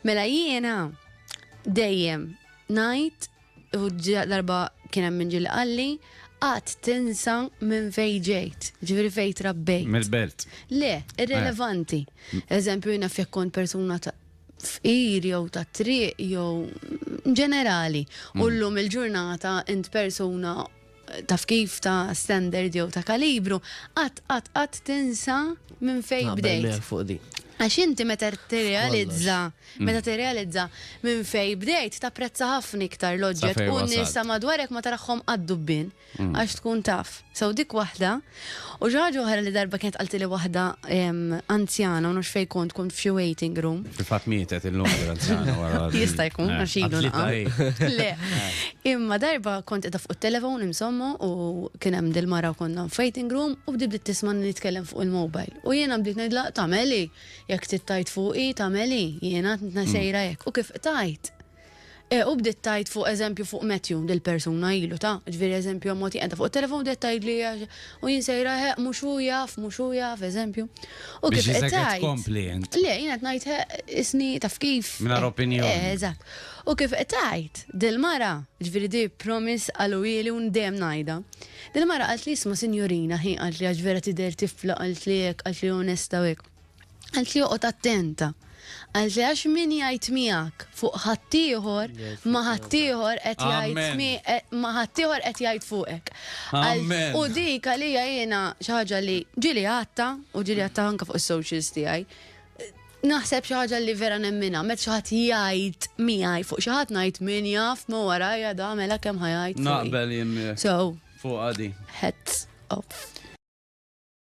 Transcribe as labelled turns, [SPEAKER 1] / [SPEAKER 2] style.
[SPEAKER 1] Mela jiena dejjem ngħid u darba kien hemm min ġieli qalli qatt tinsa minn fejn ġejt, ġifieri fejn trabbejt. Mill-belt. Le, irrelevanti. Eżempju jiena jekk kont persuna ta' fqir jew ta' triq jew ġenerali. U llum il-ġurnata int persuna taf kif ta' standard jew ta' kalibru, qatt qatt qatt tinsa minn fejn ah, bdejt. Għax
[SPEAKER 2] inti meta
[SPEAKER 1] tirrealizza, mm. meta tirrealizza minn fejn bdejt tapprezza ħafna iktar l-oġġett u n-nisa madwarek ma taraħħom għad-dubbin mm. għax tkun taf. Sew dik waħda U xi ħaġa oħra li darba kienet qaltilli waħda anzjana u nafx fejn kont, kont f'xi waiting room. Fil-fatt mietet illum
[SPEAKER 3] l-anzjana wara. Jista' jkun għax ilu
[SPEAKER 1] naqgħu. Le. Imma darba kont qiegħda fuq it-telefon insomma u kien hemm dil-mara u konna f'waiting room u bdiet bdiet tismagħni nitkellem fuq il-mobile. U jiena bdejt ngħidilha tagħmel hi, jekk trid tgħid fuqi tagħmel hi, jiena għadna sejra hekk. U kif qtajt. E, u bdiet tgħid fuq eżempju fuq Matthew, dil-persuna ilu ta', ġifieri eżempju ammont qiegħda fuq it-telefon bdiet tgħidli u jien sejra heq mhux hu jaf, mhux hu jaf, eżempju. U kif qed tgħid. Le, jien
[SPEAKER 3] qed ngħid heq
[SPEAKER 1] isni taf kif. Mingħajr opinjoni. Eh,
[SPEAKER 3] eżatt. U
[SPEAKER 1] kif qed tgħid, dil-mara, ġifieri di promise qaluli u dejjem ngħidha. Dil-mara qalt li isma' sinjorina ħin qalt li għax vera tidher tifla qalt li hekk, qalt li onesta u hekk. Għalt li joqgħod attent. Għalt li għax min jgħid miegħek fuq ħaddieħor ma ħaddieħor qed jgħid eh, ma ħaddieħor qed jgħid fuqek. U dik għalija jiena xi ħaġa li ġili għatta u ġili għatta anke fuq is-socials tiegħi naħseb xi ħaġa li vera nemmina, met xi ħadd jgħid miegħi fuq xi ħadd ngħid min jaf ma warajja da mela kemm ħajajt. Naqbel jien. So. Fuq għadi.
[SPEAKER 3] Heads
[SPEAKER 1] off.